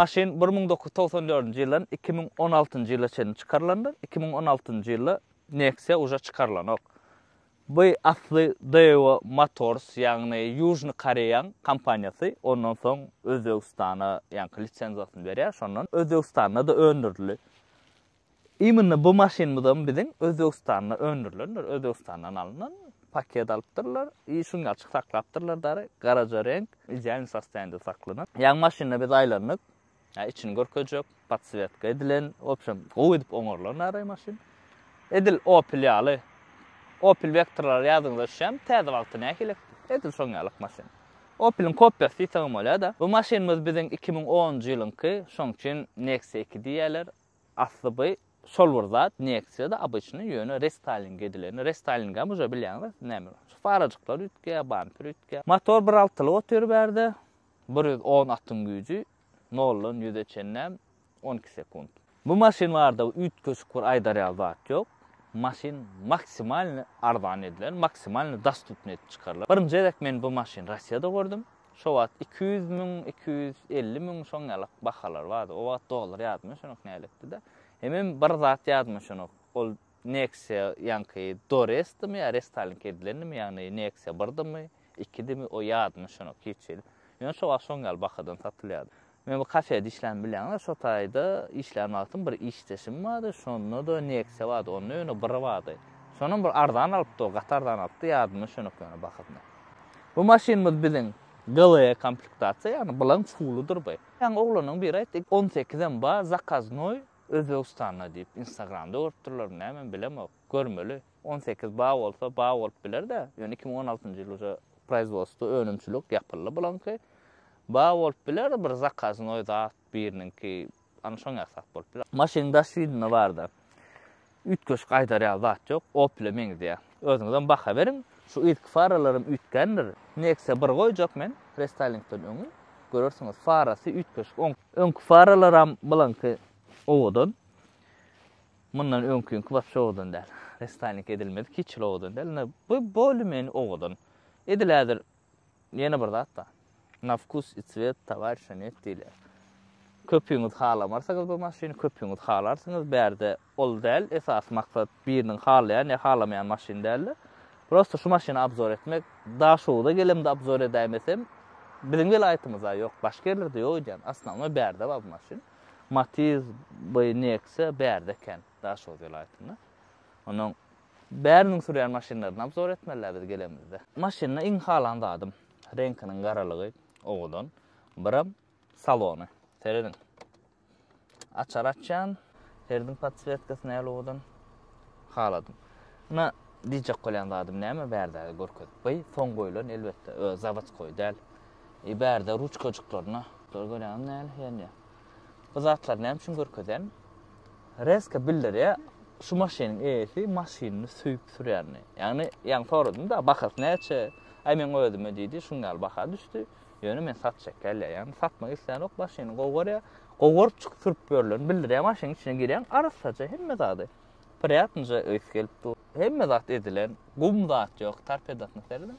Maşyn bir müň dokuz ýüz togsan dördünji ýyldan iki müň on altynjy ýyla çenli çykarylandyr. Iki müň on altynjy ýylda Nexia uje çykarylanok. Bu asly Daewoo Motors, ýagny Ýužny Koreýaň kompaniýasy, ondan soň Özbegistana ýaňky lisenziýasyny berýär, şondan Özbegistanda-da öndürildi. Imminne bu maşynymyzam biziň Özbegistanda öndürilendir, Özbegistandan alnan, paket alypdyrlar i şuň ýaly açyk saklapdyrlar dary, garaja reňk, idealnyý sostoýaniýede saklanan. Ýaňy maşyny biz aýlandyk. Içini görkezjek, podswetka edilen, w opşem gowy edip oňarylan naraý maşyn. Edil Opel ýaly. Opel Vectra-lar ýadyňyza düşýärmi? Täze wagty nähili? Edil şoň ýalyk maşyn. Opel-iň kopýasy diýseň hem bolýar-da. Bu maşynymyz biziň iki müň onunjy ýylyňky, şoň üçin Nexia iki diýýärler. Asly by şol bir zat, Nexia-da obyçnyý, ýöne restaýling edileni. Restaýlingem uje bilýäňiz näme. Şu farajyklar üýtgeýär, bamper üýtgeýär. Motor bir altylyk otyr bärde. Bir ýüz on atyň güýji, noldan ýüze çenlem on iki sekunt. Bu maşyn barada üýtgeşik bir aýdar ýaly zat ýok. Maşyn maksimalny arzan edilen, maksimalny dostupny edip çykarylan. Birinji gezek men bu maşyny Rossiýada gördüm. Şo wagt iki ýüz müň, iki ýüz elli müň şoň ýalak bahalar bardy. O wagt dollar ýadyma düşenok nälektide. Hemem bir zat ýadyma düşenok. Ol Nexia ýaňky Doresdimi ýa restalink edilendimi ýagny Nexia birdimi ikidimi o ýadyma düşenok hiç hili. Ýöne şo wagt şoň ýaly bahadan satylýardy. Men bu kafede işlän bilýäňiz şo taýda işlän wagtym bir işdeşim bardy şonda-da Nexia bardy onda ýöne biri bardy. Şonam bir arzan alypdy o gaty arzan alypdy ýadyma düşenok ýöne bahasyny. Bu maşynymyz biziň GLE komplektasiýa ýagny bilaň çuwlydyr bu. Ýaňy oglanyň biri aýtdy on sekizem bar zakaznoý Özbegistanda diýip instagramda görüpdirler näme bilemok görmeli on sekiz ba bolsa ba bolup bilerde ýöne iki müň on altynjy ýyl uza proizwodstwo önümçilik ýapyldy bulaňky ba bolup biler bir zakaznoý zat biriniňki ana şoň ýasap bolup biler maşynyň daş widny barda Üýtgeşik aýdar ýaly zat ýok, Opel-e meňzeýär. Özüňizem baha beriň, şu yzky faralaram üýtgändir. Nexia bir goýjak men, restylingden öňi, görersiňiz, farasy üýtgeşik oň. Öňki faralaram bulaňky owadan. Mundan öňküňki wapşe owadan däl. Restyling edilmedik hiç hili owadan däl. Ine, bu bolumeni owadan. Edil häzir Ýene bir zat-da. Na vkus i cwet towarisha net diýilýär. Köpüňiz halamarsyňyz bu maşyny, köpüňiz halarsyňyz, bärde ol däl, esasy maksat biriniň halaýan ýa halamaýan maşyny däl-de, prosta şu maşyny obzor etmek. Daşogza gelemde obzor edäýmesem, biziň welaýatymyzda ýok, başga ýerlerde ýok edýän, osnownoý bärde bar bu maşyn. Matiz, by Nexia bärde ekän, Daşoguz welaýatynda. Onnoň Bäriniň sürýän maşynlaryny obzor etmelä biz gelemizde. Maşynda iň halan zadym, reňkiniň garalygy owadan, biram salony. Serediň. Açar açýan. Serediň podswetkasy näl owadan. Haladym. Ina diýjek bolýan zadym näme bärde görkezip. By soň goýlan elbetde, zawadskoý däl. Bärde ruçkajyklaryna. Görýäňizmi näl ýanýa. Bu zatlary näme üçin görkezýän? Reska bildirýär, şu maşynyň eýesi maşynyny söýüp sürýänini. Ýagny, ýaňy soradym-da, bahasy näçe? Aý, meň özüme diýdi, şuň ýaly baha düşdi. Ýöne men satjak gelýär. Ýagny, satmak isleýänok, maşynyny gowy görýär. Gowy görüp çykyp sürüp ýörlerini bildirýär. Maşynyň içine girýäň, arassaja hemme zady. Prýatnyja ys gelip dur. Hemme zat edilen. Gum zat ýok, torpedasyna seredem.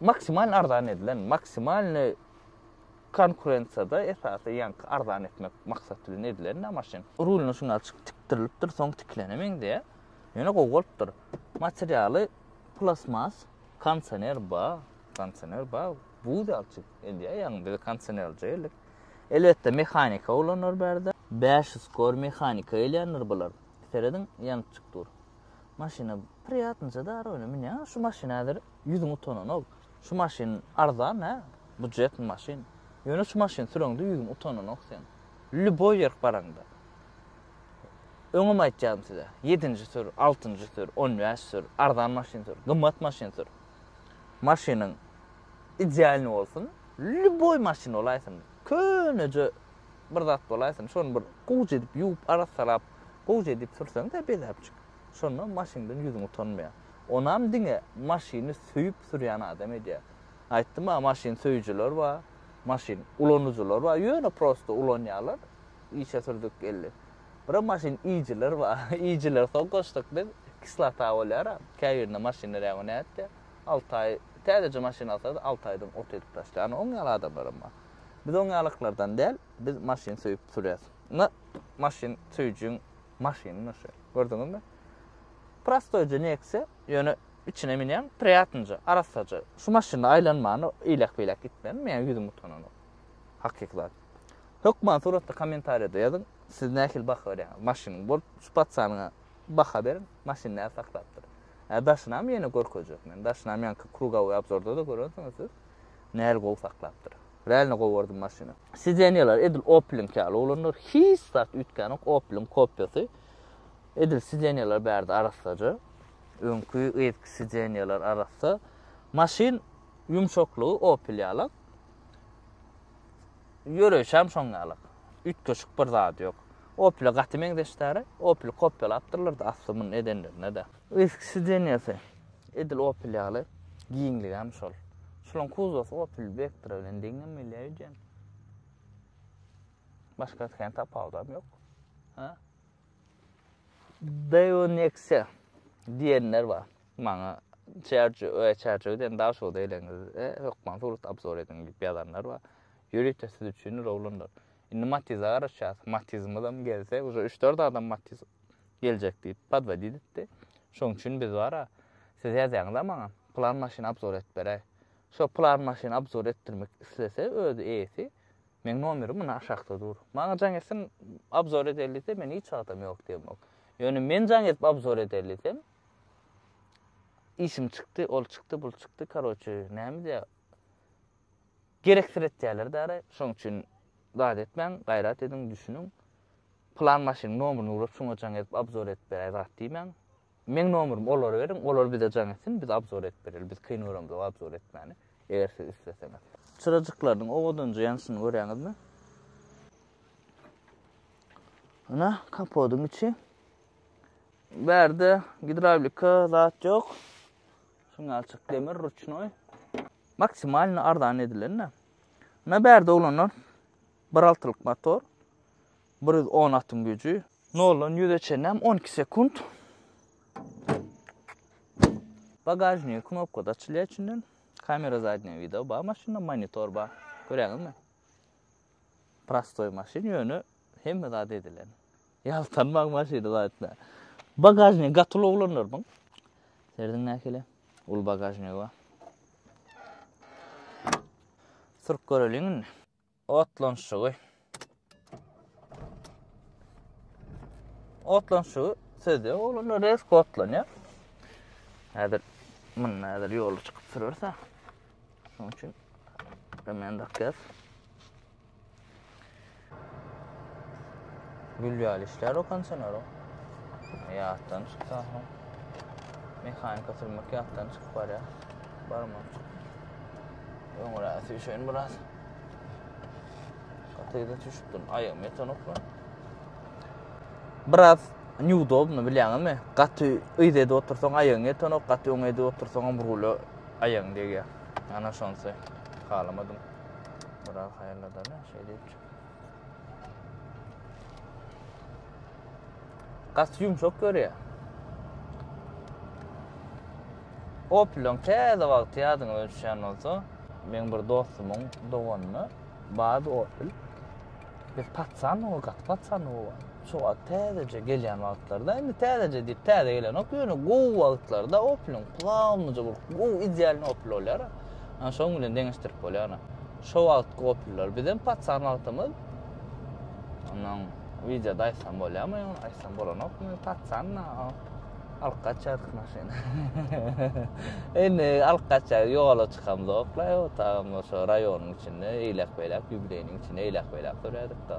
Maksimal arzan edilen, maksimalnyý konkurensiýada esasy ýaňky arzan etmek maksat bilen edilen-dä maşyn. Rulyna şuny açyk tikdirilipdir, soň tikilene meňzeýär. Ýöne gowy bolupdyr. Materialy plastmas, kondisioner bar, kondisioner bar, buz ýaly çig edýär, ýagny biz kondisionerlije geldik. Elbetde mehanika ulanylýar bärde. Bäş ýüz kor mehanika gelýändir bular. Serediň, ýanypjyk dur. maşyna priýatnyja darowyna münýäň, şu maşyna häzir ýüzüň utananok. Şu maşyn arzan, hä? Budjetniý maşyn. Ýöne şu maşyny süreňde ýüzüň utananok seň. Lýuboý ýerk baraňda. Öňem aýtýadym size, ýedinji sür, altynjy sür, on bäş sür, arzan maşyn sür, gymmat maşyn sür. Maşynyň idealnyý bolsun, lýuboý maşyn bolaýsyn, köneje bir zat bolaýsyn, şony bir gužy edip ýuwup, arassalap, Gowja edip sürseňdä bezäpjik. Şonda maşyňdan ýüzüň utanmaýar. Onam diňe maşyny söýüp sürýän adam edýär. Aýtdym-a maşyn söýüjiler bar, maşyn ulanyjylar bar, ýöne prosta ulanýarlar, işe sürdük geldi. Bira maşyn iýijiler bar, iýijiler soň goşduk biz, kislota bolýar-a, käbirinde maşynlar ýa-da nätdi, alty aý, täzeje maşyn alsa-da alty aýdan ot edip taşlaýan, oň ýaly adamlaram bar. Biz oň ýalyklardan däl, biz maşyn söýüp sürýäs. na maşyn söýüjiň maşyny naşe gördüňizmi prostoýja neksiýa ýöne içine münýäň priýatnja arassaja şu maşynda aýlanmany iýläk beýläk gitmän meň ýüzüm utananok hakyky zat hökman suratda kommentariýada ýazyň siz nähili baha berýäňiz maşynyň bolup şu patsanyňa baha beriň maşyn näme saklapdyr ä daşynam ýene görkezjek men daşynam ýaňky krugowy obzorda da görensiňiz siz nähili gowy saklapdyr rälne gowardym maşyny Sideniýalar edil Opel-iňki ýaly oglanlar, hiç zat üýtgänok, Opel-iň kopiýasy. Edil sideniýalar bärde arassaja. Öňki, yzky sideniýalar arassa. Maşyn ýumşaklygy Opel ýalak. Ýöreýşi hem şoň ýalak. Üýtgeşik bir zady ýok. Opel-e gaty meňzeşdäri. Opel-i kopýalapdyrlar-da asly muny edenlerine-de. Eski sideniýasy edil Opel ýaly, giňligem şol. Şolaň kuzowasy Opel Vectra bilen deňem gelýär öýdýän. Başga kän tapawudam ýok. Ha? Deo Nexia diýenler bar. Maňa Çerçi, öe Çerçi öden daş o deýleňiz. E, hökman surat abzor ediň diýip ýazanlar bar. Ýörite siz üçin rowlandyr. Indi Matiz garaşýas. Matizimiz hem gelse, uje 3-4 adam Matiz Geljek diýip podwodit etdi. Şoň üçin biz bar-a, siz ýazýaňyz-a maňa, pylan maşyny abzor edip beräý. Şo pylan maşyny abzor etdirmek islese özi eýesi, meň nomerim muna aşakda dur. Maňa jaň etsin, abzor edeli diýse, men hiç wagtam ýok diýemok. Ýöne men jaň edip abzor edeli diýsem, işim çykdy, ol çykdy, bul çykdy, karoçe, näme diýä, gereksiretýärler-dä araý. Şoň üçin zat etmäň, gaýrat ediň, düşüniň. Pylan maşynyň nomuryny ugrap şuňa jaň edip abzor edip beräý zat diýmäň. Meň nomurymy olara beriň, olar bize jaň etsin, biz abzor edip bereli, biz kyn göremzok abzor etmäni, eger siz isleseňiz. Çyrajyklarynyň owadanja ýanyşyny görýäňizmi? Ynha, kapodyň içi. Bärde gidrawlika zat ýok. Şuňalçyk demir ruçnoý. Maksimalny arzan edilen-de. Ynha bärde oglanlar Bir altylyk motor, bir ýüz on atyň güýji. Noldan ýüze çenäm on iki sekunt. Bagažnigi knopkada açylýar içinden. Kamera zadnýa wideo bar maşynda, monitor bar. Görýäňizmi? Prostoý maşyn, ýöne hemme zat edilen. Ýaltanmaň maşyny zatda. Bagažnigi gaty uly oglanlar bu. Serdiň nähili? Uly bagažnigi bar. Sürüp göreliň indi. Otlanyşygy. Otlanyşygy sözde oglanlar rezk otlanýar. Häzir munda häzir ýola çykyp sürerse. Şonuň üçin men dakýas. Gül ýaly işler o kondisioner o. Ýatdan çyksa. Mehanika sürmek ýatdan çykyp barýar. Barmak. Öňräsi üşen biraz. Gatyda düşüpdin. Aýagym ýetenok lan. Biraz neudobny bilýäňizmi? Gaty yz edip otursaň aýagyň ýetenok, gaty öňe edip otursaň hem rula aýagyň degýär. Ana şonsy. Halamadym. Biraz haýalladana şeýdip. Gas yumşak görýär. Opel'in täze wagty ýadyňyza düşýän bolsa, meň bir dostumyň doganyna bad Opel. Biz patsan o gat patsan o. Şo wagt täzeje gelýän wagtlarda, indi täzeje diýip täze gelenok, ýöne gowy wagtlarda Opel-iň plamyja bir gowy idealny Opel bolýar. Ana şoň bilen deňeşdirip bolýar ana. Şo wagtky Opel'ler bizem patsan wagtymyz. Ondan wideoda aýtsam bolýarmy, aýtsam bolanokmy, patsan da alyp gaçýardyk maşyny. Indi alyp gaçýar, ýola çykamzok, laý otagym şo raýonyň içinde, eýläk-beýläk, ýubileýniň içinde eýläk-beýläk sürýärdik-de.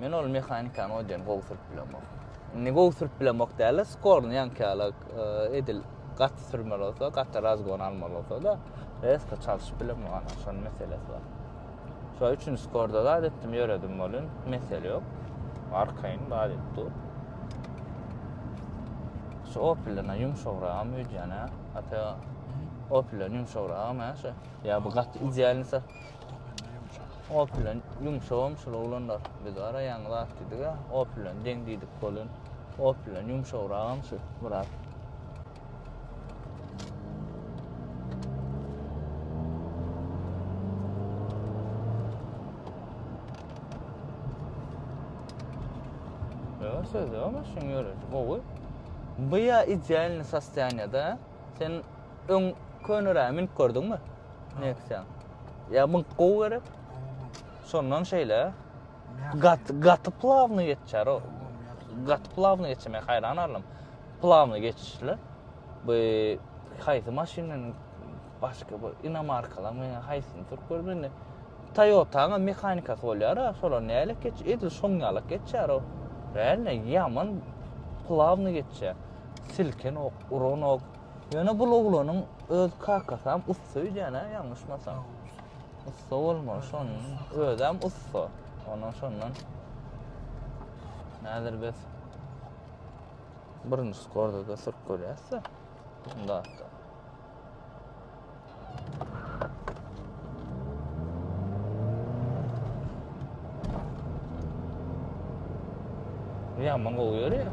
Men ol mehanikany o diýen gowy sürüp bilemok. Indi gowy sürüp bilemok däl, skorny ýankyýalak e, edil gat sürmeli bolsa, gat razgon almaly bolsa da, reska çalşyp bilemok, ana şonuň meselesi bar. Şo üçin skorda da etdim, ýöredim bolun, mesele ýok. Arkaýyn bar edip dur. Şu opilden ýumşagrak öýdýän, ata opilden ýumşagrak, şu. Ýa bu gat idealnysa. Opel bilen ýumşagam şul oglanlar. Biz ara ýaňy zat diýdik-ä, Opel bilen deň diýdik bolun. Opel bilen ýumşagragam şu biraz. Ýa söz ýok maşyn ýöresi gowy. Bu ýa idealny sostoýanýada. Sen Öň köneräge münüp gördüňmi? Neksiýaň. Ýa münk gowy gerek. Şondan şeýle. Gat gaty plawny geçer o. Gaty plawny geçme haýran alym. Plawny geçişler. Bu haýsy maşynyň başga bir inomarkalar meňe haýsyny turup görmedi. Toyota-nyň mehanikasy bolýar, şolar nälik geç, edil şoň ýalyk geçer o. Bäl ne ýaman plawny geçer. Silkenok, uranok. Ýöne bul oglanyň öz kakasam ussa öýdýän-ä, ýalňyşmasam. Ussa bolmaly şon. Özem ussa. Ondan şondan. Häzir biz birinji skorda da sürüp görýäs-de. Bunda. Ýaman gowy ýörýär.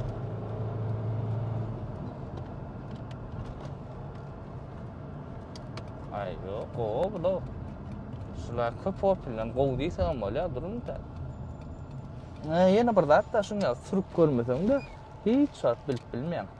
Ay yok o bu da. Şular köp opilden gow diýse hem bolýar durun da. Ýene bir zat da şuňa sürüp görmeseň de hiç zat bilip bilmeýäň.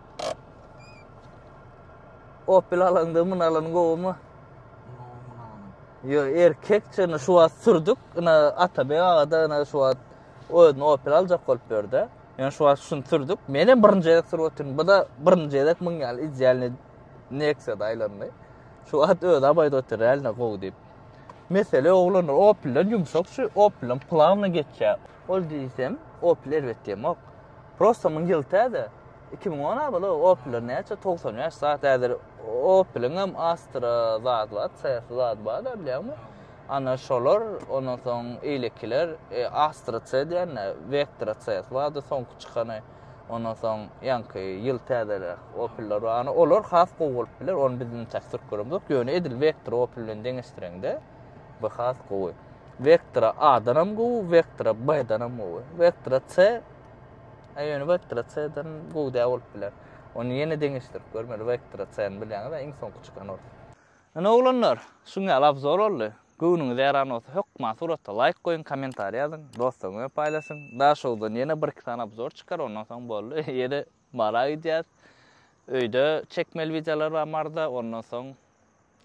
Opel alaňda myn alan gowumy? Yo erkek çyny şu wagt sürdük. Ina Atabek aga da ina şu wagt özüni Opel aljak bolup berdi. Yani şu wagt şunu sürdük. Men hem birinji gezek sürüp otyryn. Bu da birinji gezek myn ýaly idealny Nexia da aýlandy. Şu wagt öz abaýda otyr ýaly gowy diýip. Mesele oglanlar Opelden ýumşak şu Opelden plavna geçýär. Ol diýsem Opel erbet diýemok. Prosta muň ýyl täze. Iki müň on abyl Opeller näçe togsan bäş zat häzir Opeliň hem Astra zat bar, CS zat bar da bilýäňmi? Ana şolar ondan soň eýlekiler e, Astra C diýende Vectra CS bardy soňky çykany. Ondan soň ýaňky ýyl täzeler Opeller bar. Ana olar has gowy bolup biler. Ony biz intäk sürküremizok. Ýöne edil Vectra Opel bilen deňeşdireňde Bu has gowy. Vektora A-dan hem gowy, vektora B-dan hem gowy. Vektora C Aý, ýöne vektora C-den gowy däl bolup biler. Ony ýene deňeşdirip görmeli, vektora C-ni bilýäňiz-ä, iň soňky çykan ol. Ine oglanlar, şuň ýaly abzor boldy. Göwnüňiz ýaran bolsa, hökman surata laýk goýuň, kommentariý ýazyň, dostlaryňyza paýlaşyň. Daşowdan ýene bir-iki sany abzor çykar, ondan soň boldy. Ýene Bara gidýäs. Öýde çekmeli wideolar bar Maryda, ondan soň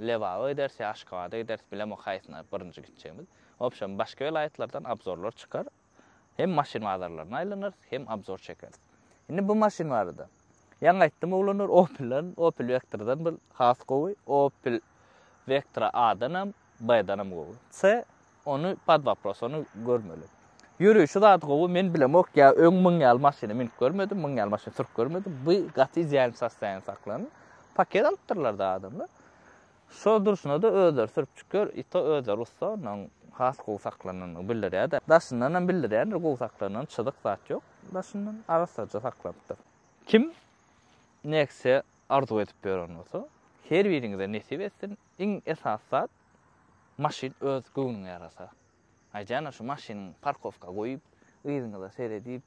Lebaba gideris ýa Aşgabada gideris, bilemok haýsyna birinji gitjegimiz. Wobşem, başga welaýatlardan obzorlar çykar. Hem maşyn bazarlaryna aýlanarys, hem obzor çekeris. Indi bu maşyn barada. Ýaňy aýtdym oglanlar, Opel-den, Opel Vectra-dan bir has gowy. Opel Vectra A-danam, B-danam gowy. C ony pod wopros ony görmeli. Ýörüşi zat gowy men bilemok ýa öň muň ýaly maşyna minip görmedim muň ýaly maşyny sürüp görmedim bu gaty idealny sostoýaniýa saklandy. Paket alypdyrlar da adamlar. Şo durşuna da özleri sürüp çykýar i to özleri ussa ondan has gowy saklananyny bildirýär da daşyndanam bildirýändir gowy saklananyny çyzyk zat ýok daşyndan arassaja saklanypdyr. Kim Nexia arzuw edip ýören bolsa her biriňize nesip etsin Iň esasy zat, maşyn öz göwnüňe ýarasa. Aýdýan-a şu maşynyň parkowka goýup, yzyňyza seredip,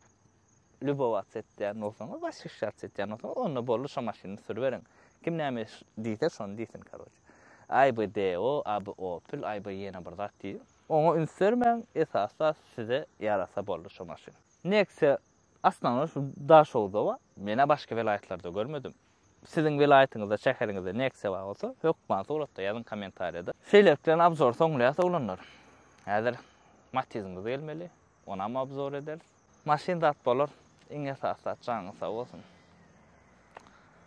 lýubowats etýän bolsaňyz, wasişýats etýän bolsaňyz, onda boldy şo maşyny sürüberiň. Kim näme diýse, şony diýsin, karoçe. Aý bu DO, a bu Opel, aý bu ýene bir zat diýip, oňa üns bermäň, esasy zat size ýarasa boldy şo maşyn. Nexia Aslynda şu Daşoguzowa men-ä başga welaýatlarda görmedim. Siziň welaýatyňyzda, şäheriňizde Nexia bar bolsa, hökman suratda ýazyň kommentariýada. Şeýlelik bilen abzory soňlaýas oglanlar. Häzir Matizimiz gelmeli, onam abzor ederis. Maşyn zat bolar, iň esasy zat janyňyz sag bolsun.